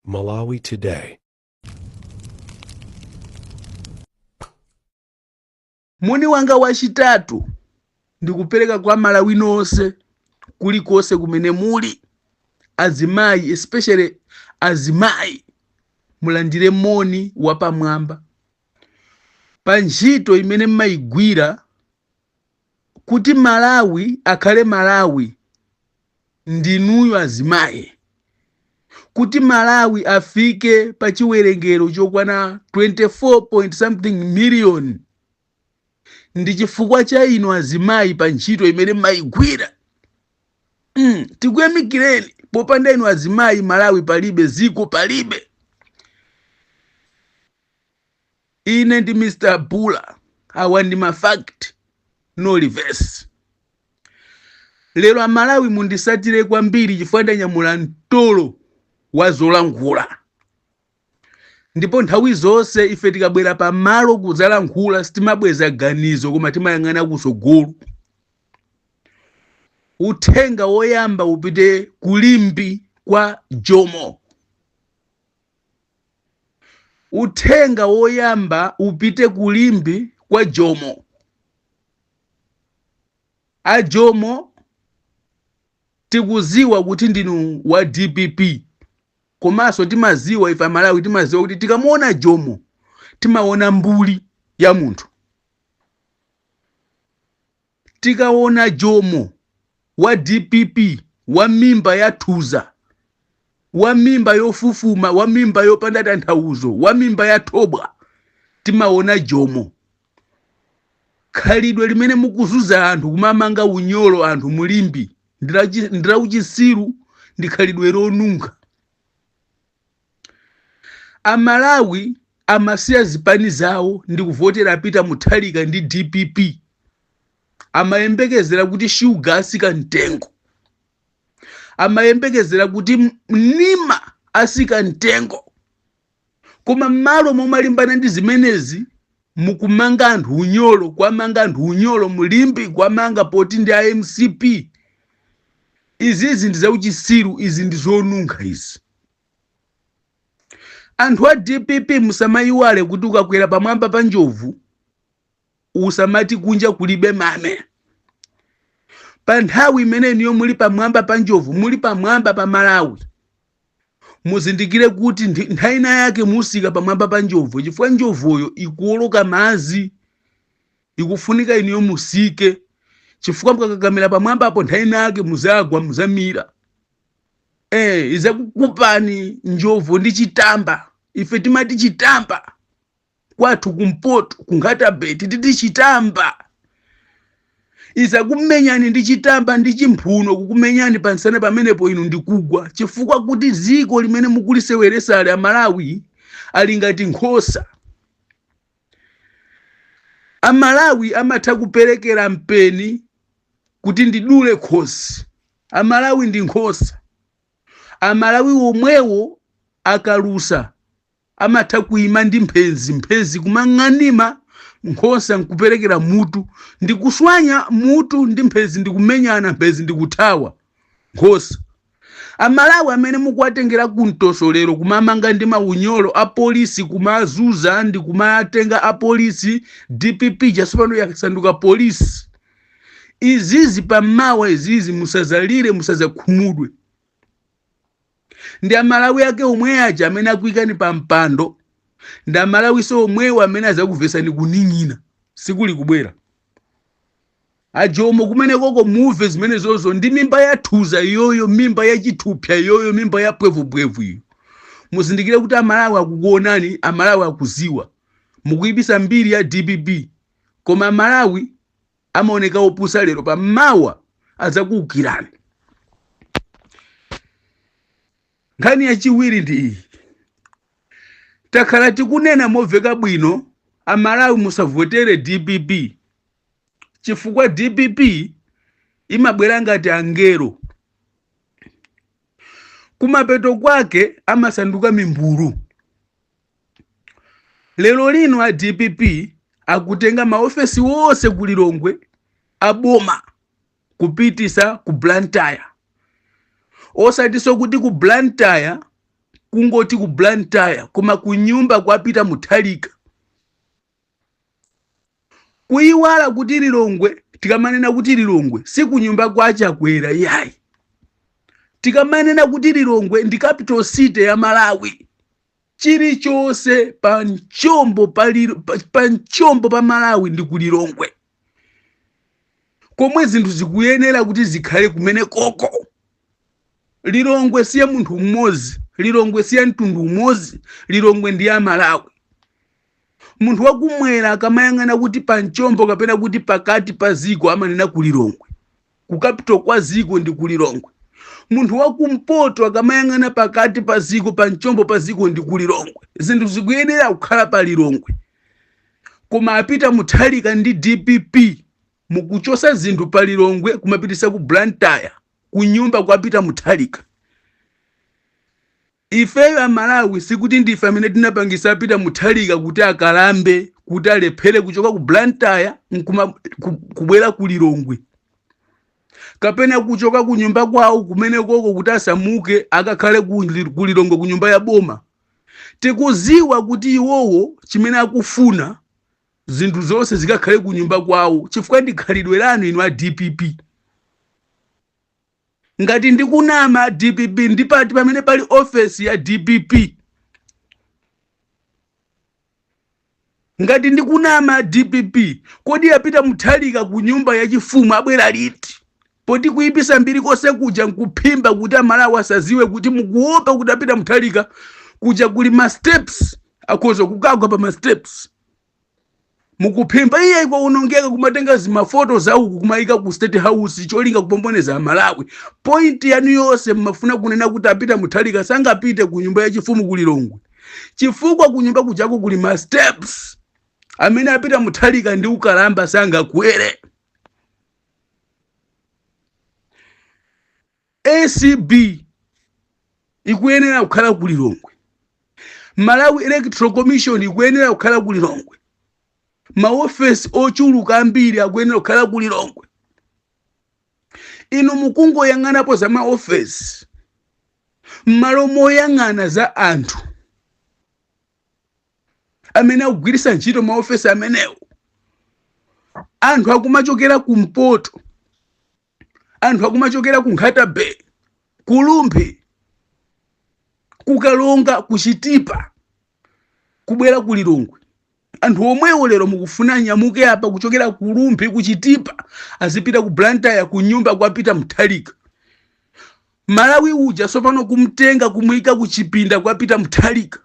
Malawi Today. moni wanga wachitatu ndikupereka kwa amalawi nonse kulikonse kumene muli azimayi especially azimayi mulandire moni wapamwamba pa ntchito imene mmayigwira kuti malawi akhale malawi ndinuyo azimayi kuti malawi afike pa chiwerengero chokwana 24 point something million ndi chifukwa cha inu azimayi pa ntchito imene mmayigwira mm, tikuyamikireni popanda inu azimayi malawi palibe ziko palibe ine ndi mr bula awa ndi ma fact no reverse lero amalawi mundisatire kwambiri chifukwa ndanyamula mtolo wa zolankhula ndipo nthawi zonse ife tikabwera pamalo kudzalankhula sitimabweza ganizo koma timayang'ana kusogolo uthenga woyamba upite ku limbe kwa jomo Uthenga woyamba upite ku Limbe kwa Jomo. A Jomo tikuziwa kuti ndinu wa dpp komanso timaziwa ife amalawi timaziwa kuti tikamuona Jomo timaona mbuli ya munthu. Tikaona Jomo wa dpp wa mimba ya thuza, wa mimba yofufuma, wa mimba yopanda tanthauzo, wa mimba ya thobwa, timaona Jomo. Khalidwe limene mukuzunza anthu kumamanga unyolo anthu mu Limbe ndilauchisiru ndi khalidwe lonunkha. A Malawi amasiya zipani zawo ndikuvotera a Peter Mutharika ndi dpp. Amayembekezera kuti shuga asika mtengo. Amayembekezera kuti mnima asika mtengo. Koma mmalo momalimbana ndi zimenezi, mukumanga anthu unyolo kwamanga anthu unyolo mu limbe kwamanga poti ndi a mcp izizi ndi zauchisiru izi ndi zonunkha izi anthu a dpp musamayiwale kuti ukakwera pamwamba pa njovu usamati kunja kulibe mame pa nthawi imene inuyo muli pamwamba pa njovu muli pamwamba pa malawi muzindikire kuti nthawi ina yake musika pamwamba pa njovu chifukwa njovuyo ikuwoloka madzi ikufunika inuyo musike chifukwa mukakakamira pamwamba apo nthawi ina yake muzagwa muzamira izakukupani njovu ndi chitamba ife timati chitamba kwathu kumpoto ku Nkhata Bay timati chitamba izakumenyani ndi chitamba ndi chimphuno kukumenyani pansana pamenepo inu ndikugwa chifukwa kuti dziko limene mukuliseweresali amalawi ali ngati nkhosa amalawi amatha kuperekera mpeni kuti ndidule khosi amalawi ndi nkhosa amalawi omwewo akalusa Amatha kuima ndi mphenzi, mphenzi kumang'anima, nkhosa nkuperekera mutu, ndi kuswanya mutu ndi mphenzi ndi kumenyana mphenzi ndi kuthawa nkhosa. Amalawi amene mukuwatengera ku mtoso lero kumamanga ndi maunyolo a polisi kumazuza ndi kumatenga a polisi dpp ija sopano yasanduka polisi izizi pammawa izizi musazalire musazakhumudwe. ndi amalawi ake omwe aja amene anakuikani pa mpando ndi amalawiso omwewo amene azakuvesani kuning'ina sikuli kubwera a Jomo kumene koko muve zimene zozo ndi mimba yathuza iyoyo mimba yachithupsa iyoyo mimba ya pwevupwevu iyo muzindikire kuti amalawi akukuonani amalawi akuziwa mukuipisa mbiri ya dpp koma amalawi amaoneka opusa lero pammawa azakuukirani nkhani yachiwiri ndi iyi takhala tikunena moveka bwino amalawi musavotere dpp chifukwa dpp imabwera ngati angelo kumapeto kwake amasanduka mimbulu lero lino a dpp akutenga maofesi onse ku lilongwe aboma kupitisa ku blantyre osatiso kuti ku blantyre kungoti ku blantyre koma kunyumba kwa Peter Mutharika kuyiwala kuti lilongwe tikamanena kuti lilongwe si kunyumba kwa Chakwera yayi tikamanena kuti lilongwe ndi capital city ya malawi chilichonse pa mchombo pa malawi ndi ku lilongwe komwe zinthu zikuyenera kuti zikhale kumene koko lilongwe siya munthu mmodzi lilongwe siya mtundu umodzi lilongwe ndi ya malawi munthu wakumwera akamayang'ana kuti pa mchombo kapena kuti pakati pa ziko amanena ku lilongwe ku capital kwa ziko ndi ku lilongwe munthu wakumpoto akamayang'ana pakati pa ziko pa mchombo pa ziko ndi ku lilongwe zinthu zikuyenera kukhala pa lilongwe koma a peter mutharika ndi dpp mukuchosa zinthu pa lilongwe kumapitisa ku blantyre kunyumba kwa peter mutharika Ifeyo a Malawi sikuti ndife amene tinapangisa Peter Mutharika kuti akalambe kuti alephere kuchoka ku Blantyre nkuma ku, kubwera ku Lilongwe kapena kuchoka ku nyumba kwawo kumeneko ko kuti asamuke akakhale ku Li- ku Lilongwe ku nyumba ya boma. Tikuziwa kuti iwowo chimene akufuna zinthu zonse zikakhale ku nyumba kwawo chifukwa ndi khalidwe lanu inu a DPP. Ngati ndikunama a dpp ndi pati pamene pali ofesi ya dpp? Ngati ndikunama a dpp kodi a Peter Mutharika ku nyumba ya chifumu abwera liti? Poti kuipisa mbiri konse kuja nkuphimba kuti amalawi asaziwe kuti mukuopa kuti a Peter Mutharika kuja kuli ma steps akhoza kukagwa pa ma steps. mukuphimba iye kwaonongeka kumatenga zimafoto za uku kumayika ku state house cholinga kupomboneza amalawi point yanu yonse mmafuna kunena kuti a peter mutharika sangapite ku nyumba yachifumu ku lilongwe chifukwa ku nyumba kujako kuli ma steps amene a peter mutharika ndi ukalamba sangakwere acb ikuyenera kukhala ku lilongwe malawi electoral commission ikuyenera kukhala ku lilongwe maofesi ochuluka ambiri akuyenera kukhala ku lilongwe inu mukungoyang'anapo za maofesi m'malo moyang'ana za anthu amene akugwiritsa ntchito maofesi amenewo anthu akumachokera kumpoto anthu akumachokera ku nkhata bay ku rumphi ku karonga ku chitipa kubwera ku lilongwe anthu omwewo lero mukufuna anyamuke apa kuchokera ku rumphi ku chitipa azipita ku blantyre ku nyumba kwa peter mutharika malawi uja sopano kumtenga kumuyika kuchipinda kwa peter mutharika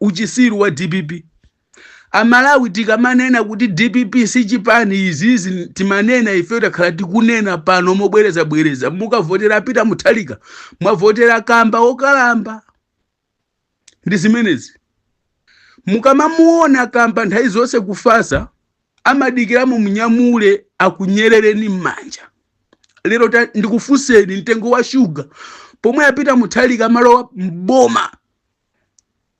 uchisiru wa dpp Amalawi tikamanena kuti dpp si chipani izi zi timanena ifeyo takhala tikunena pano mobwereza bwereza mukavotera a Peter Mutharika mwavotera kamba okalamba ndi zimenezi mukamamuona kamba nthawi zonse kufasa amadikira mumunyamule akunyerereni m'manja lero ta- ndikufunseni mtengo wa shuga pomwe a Peter Mutharika amalowa mboma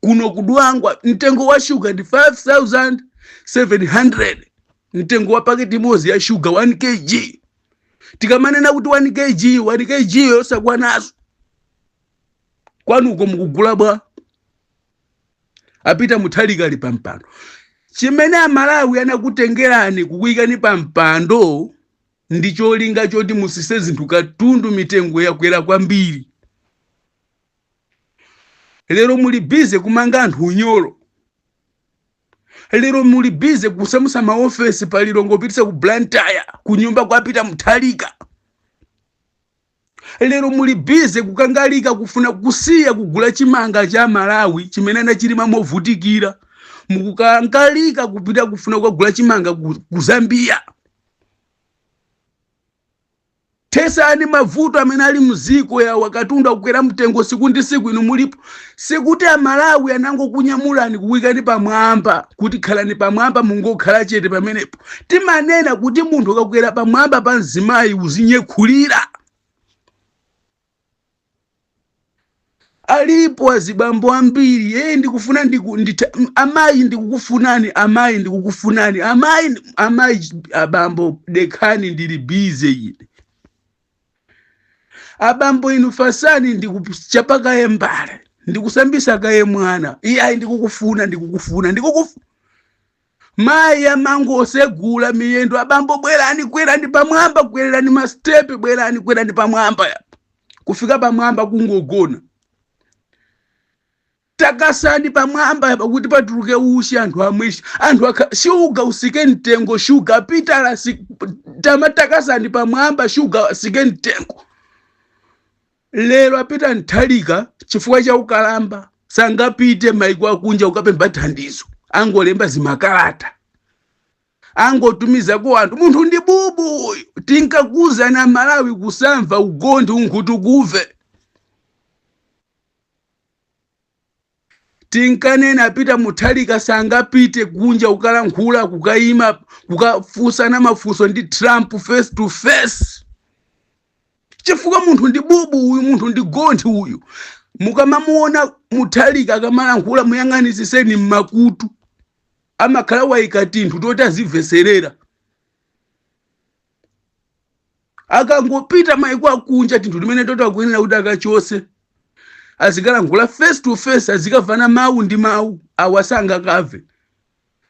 kuno kudwangwa mtengo wa shuga ndi 5700 mtengo wa paketi imodzi ya shuga 1 kg tikamanena kuti 1 kg 1 kg yosakwanazo kwanuko mukugula bwa a Peter Mutharika ali pampando chimene amalawi anakutengerani kukuyikani pampando ndi cholinga choti musise zinthu katundu mitengo yakwera kwambiri lero muli bize kumanga anthu unyolo lero muli bize kusamusa maofesi pa Lilongwe kupitisa ku blantyre ku nyumba kwa peter mutharika lero muli bize kukangalika kufuna kusiya kugula chimanga cha malawi chimene anachilima movutikira mukukangalika kupita kufuna kukagula chimanga ku, ku zambia Thesani mavuto amene ali mziko awa katundu akukwera mtengo siku ndi siku inu mulipo sikuti amalawi anangokunyamulani kukuikani pamwamba kuti khalani pamwamba mungokhala chete pamenepo timanena kuti munthu ukakwera pamwamba pa mzimayi uzinyekhulira Alipo azibambo ambiri ee ndikufuna ndiku, ndita, m- amayi ndikukufunani amayi ndikukufunani amayi ndi- amayi ch- abambo dekhani ndili bize ine abambo inu fasani ndikuchapa kaye mbale ndikusambisa kaye mwana iyayi ndikukufuna ndikukufuna ndikukufu Mayi amangosegula miyendo, abambo bwerani, kwerani pamwamba, kwererani masitepe, bwerani, kwerani pamwamba yapa. Kufika pamwamba kungogona. Takasani pamwamba yapa kuti patuluke uchi anthu amwe uchi. Anthu shuga usike mtengo shuga Pitala, tama takasani pamwamba shuga asike mtengo. lero a Peter Mutharika chifukwa cha ukalamba sangapite maiko akunja kukapempha thandizo angolemba zimakalata angotumizako anthu munthu ndi bubu uyu tinkakuuzani amalawi kusamva ugonthi unkhutukuve tinkanena a Peter Mutharika sangapite kunja kukalankhula kukayima kukafunsana mafunso ndi trump face to face chifukwa munthu ndi bubu uyu munthu ndi gonthi uyu mukamamuona Mutharika akamalankhula muyang'anisiseni mmakutu amakhala wayika tinthu toti azimveserera akangopita maiko akunja tinthu timene toto akuyenera kuti akachose azikalankhula face to face azikavana mawu ndi mawu awa sangakave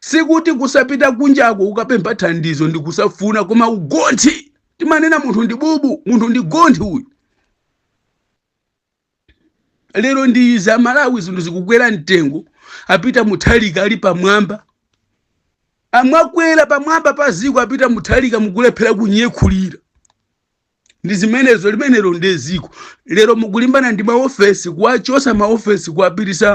sikuti kusapita kunjako kukapempha thandizo ndi kusafuna koma ugonthi timanena munthu ndi bubu munthu ndi gonthi uyu lero ndi izi amalawi zinthu zikukwera mtengo a peter muthalika ali pamwamba amwakwera pamwamba pa ziko a peter muthalika mukulephera kunyekhulira ndi zimenezo limenelo nde ziko lero mukulimbana ndi maofesi kuwachosa maofesi kuwapirisa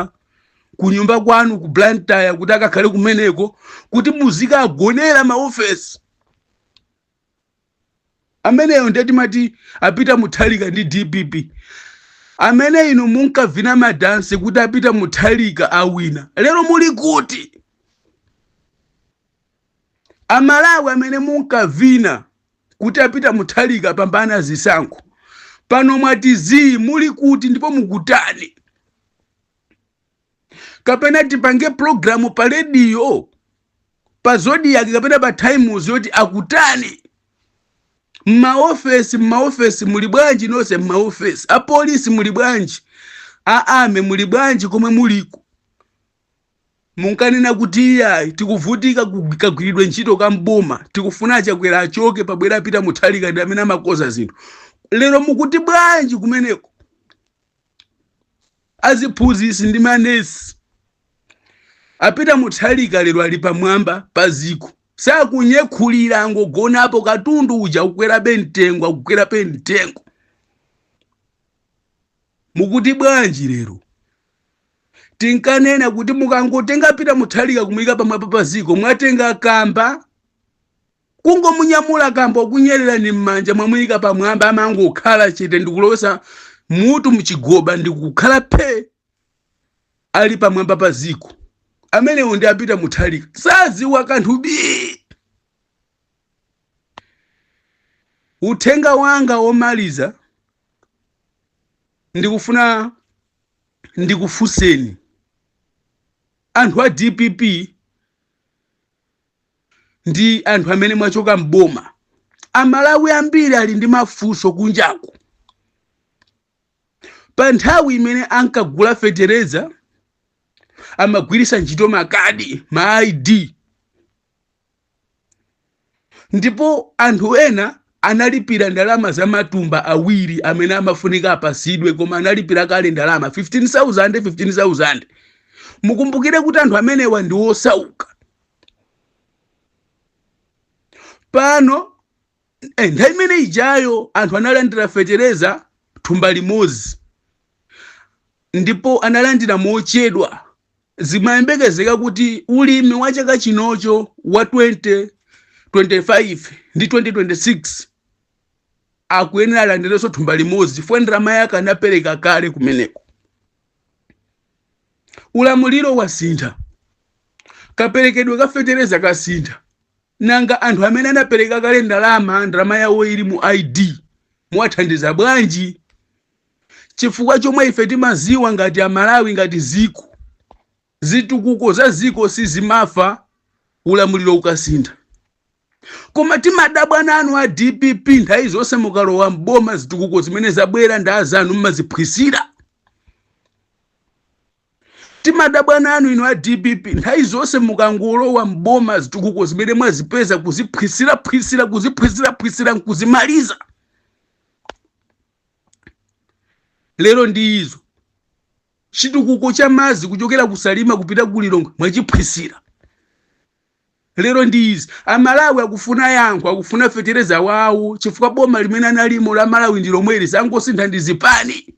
kunyumba kwanu ku blantyre kuti akakhale kumeneko kuti muzikawagonera maofesi ameneyo ndiye timati a peter muthalika ndi dpp amene inu munkavina madansi kuti a peter muthalika awina lero muli kuti amalawi amene munkavina kuti a peter muthalika apambana zisankho pano mwati zii muli kuti ndipo mukutani kapena tipange programu pa rediyo pa zodiac kapena pa times yoti akutani mmaofesi mmaofesi muli bwanji nonse mmaofesi apolisi muli bwanji a army muli bwanji komwe muliko munkanena kuti iyayi tikuvutika kugwi- kagwiridwe ntchito ka mboma tikufuna achakwera achoke pabwere a peter muthalika ndi amene amakoza zinthu lero mukuti bwanji kumeneko Aziphunzitsi ndi ma nurse a Peter Muthalika lero ali pamwamba pa ziko sakunyekhulira angogonapo katundu uja akukwerabe mtengo akukwerabe mtengo mukuti bwanji lero tinkanena kuti mukangotenga Peter Muthalika kumuyika pamwamba pa ziko mwatenga kamba Kungomunyamula kamba okunyelelani mmanja mwamuyika pamwamba amangokhala chete ndikulowesa mutu mchigoba ndikukhala phee Ali pamwamba pa ziko. Amenewo ndi a Peter Muthalika saziwa kanthu bii! Uthenga wanga omaliza ndikufuna ndikufunseni anthu a dpp ndi anthu amene mwachoka m'boma amalawi ambiri ali ndi mafunso kunjaku pa nthawi imene ankagula fetereza amagwiritsa ntchito makadi ma id ndipo anthu ena analipira ndalama za matumba awiri amene amafunika apasidwe koma analipira kale ndalama 15000 15000 mukumbukire kuti anthu amenewa ndi osauka pano nthawi imene ijayo anthu analandira fetereza thumba limodzi ndipo analandira mochedwa zimayembekezeka kuti ulimi wa chaka chinocho wa 2025 ndi 2026 akuyenera alandirenso thumba limodzi chifukwa ndalama yake anapereka kale kumeneko ulamuliro wasintha kaperekedwe ka fetereza kasintha nanga anthu amene anapereka kale ndalama ndalama yawo ili mu id muwathandiza bwanji chifukwa chomwe ife timaziwa ngati amalawi ngati ziko zitukuko za ziko sizimafa ulamuliro ukasintha koma timadabwa nanu a dpp nthawi zonse mukalowa mboma zitukuko zimene zabwera ndi azanu mmaziphwisira timadabwa nanu inu a dpp nthawi zonse mukangolowa mboma zitukuko zimene mwazipeza kuziphwisiraphwisira kuziphwisiraphwisira nkuzimaliza lero ndi izo chitukuko cha madzi kuchokera kusalima kupita kulilongwe mwachiphwisira lero ndi izi amalawi akufuna yankho akufuna fetereza wawo chifukwa boma limene analimo la malawi ndi lomweli zangosintha ndi zipani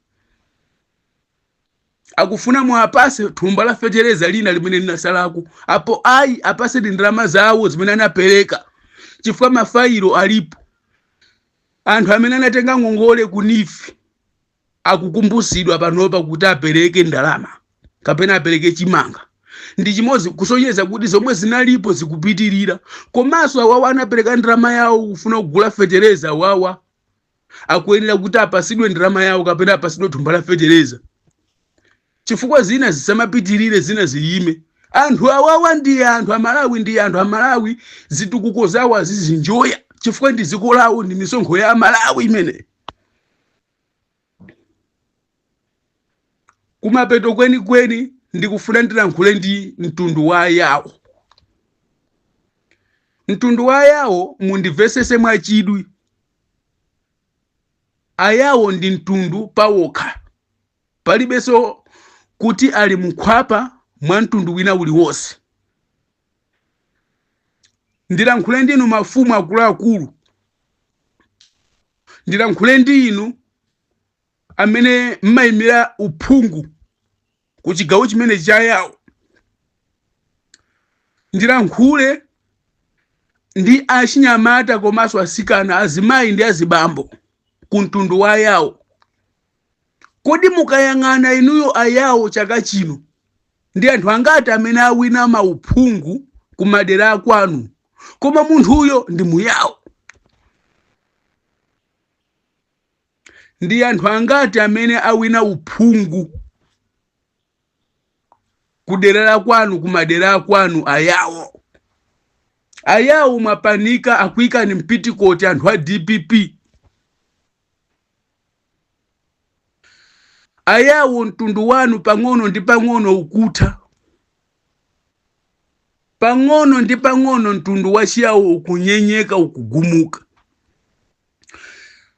akufuna muapase thumba la fetereza lina limene linasalako apo ayi apase ndi ndalama zawo zimene anapereka chifukwa mafayilo alipo anthu amene anatenga ngongole ku neef akukumbusidwa panopa kuti apereke ndalama kapena apereke chimanga ndi chimozi kusonyeza kuti zomwe zinalipo zikupitirira komanso awawa anapereka ndalama yawo kufuna kugula fetereza awawa akuyenera kuti apasidwe ndalama yawo kapena apasidwe thumba la fetereza chifukwa zina zisamapitirire zina ziyime anthu awawa ndi anthu amalawi ndi anthu amalawi zitukuko zawo azizinjoya chifukwa ndi dziko lawo ndi misonkho ya amalawi imene kumapeto kwenikweni ndikufuna ndilankhule ndi mtundu wa ayawo mtundu wa ayawo mundivesese mwachidwi ayawo ndi mtundu pawokha palibenso kuti ali mkhwapa mwa mtundu wina uliwonse ndilankhule ndi inu mafumu akuluakulu ndilankhule ndi inu amene mmayimira uphungu ku chigawo chimene chayawo ndilankhule ndi achinyamata komanso asikana azimayi ndi azibambo ku mtundu wa ayawo Kodi mukayang'ana inuyo a Yao chaka chino ndi anthu angati amene awina mauphungu ku madera akwanu? Koma munthuyo ndi mu Yao. Ndi anthu angati amene awina uphungu ku dera la kwanu ku madera akwanu a Yao? A Yao mwapanika akuikani m'pitikoti anthu a DPP. Ayawo mtundu wanu pang'ono ndi pang'ono ukutha. Pang'ono ndi pang'ono mtundu wa Chiyawo ukunyenyeka, ukugumuka.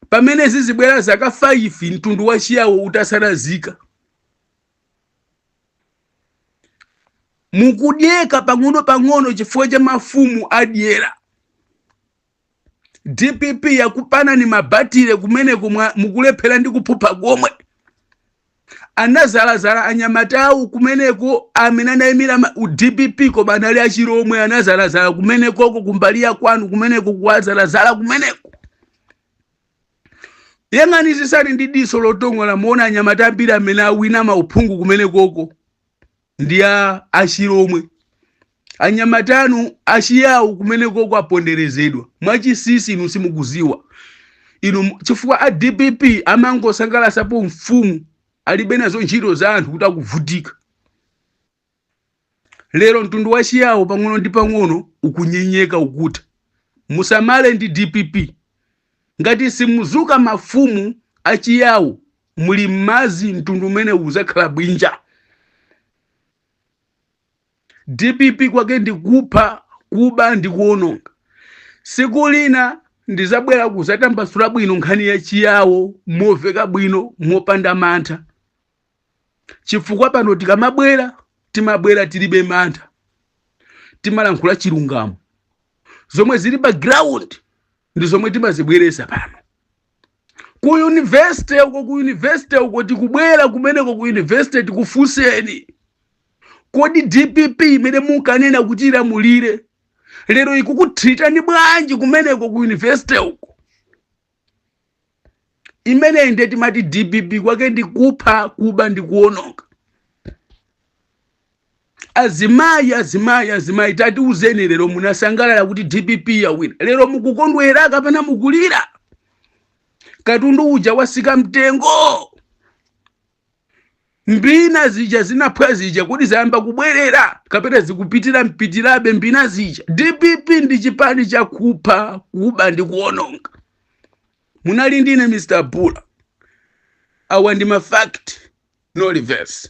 Pamene zizibwera zaka 5 mtundu wa Chiyawo utasalazika. Mukudyeka pang'ono pang'ono chifukwa cha mafumu adyera. dpp yakupanani mabatire kumeneko mukulephera ndi kuphupha komwe anazalazala anyamatawo kumeneko amene anayimira ma- u- dpp koma anali achilomwe anazalazala kumenekoko kumbali ya kwanu kumeneko kuwazalazala kumeneko yang'anisisani ndi diso lotongola muona anyamata ambiri amene awina mauphungu kumenekoko ndi a achilomwe anyamata anu achiyawo kumeneko aponderezedwa mwachisisi inu simukuziwa inu mu- chifukwa a dpp amangosangalasapo mfumu alibe nazo ntchito za anthu kuti akuvutika lero mtundu wa chiyawo pang'ono ndi pang'ono ukunyenyeka ukutha musamale ndi dpp ngati simuzuka mafumu achiyawo muli mmazi mtundu umenewu uzakhala bwinja dpp kwake ndi kupha kuba ndi kuononga siku lina ndizabwera kuzatambasula bwino nkhani ya chiyawo moveka bwino mopanda mantha chifukwa pano tikamabwera timabwera tilibe mantha timalankhula chilungamo zomwe zili pa ground ndi zomwe timazibweresa pano ku university uko ku university uko tikubwera kumeneko ku university tikufunseni kodi dpp imene munkanena kuti ilamulire lero ikukutreatani bwanji kumeneko ku university uko imeneyi nde timati dpp kwake ndi kupha kuba ndi kuononga azimayi azimayi azimayi tatiuzeni lero munasangalala kuti dpp yawina lero mukukondwera kapena mukulira katundu uja wasika mtengo mbina zija zinaphwa zija kuti zayamba kubwerera kapena zikupitira mpitirabe mbina zija dpp ndi chipani chakupha kuba ndi kuononga munali ndine mr bula awa ndi mafact no reverse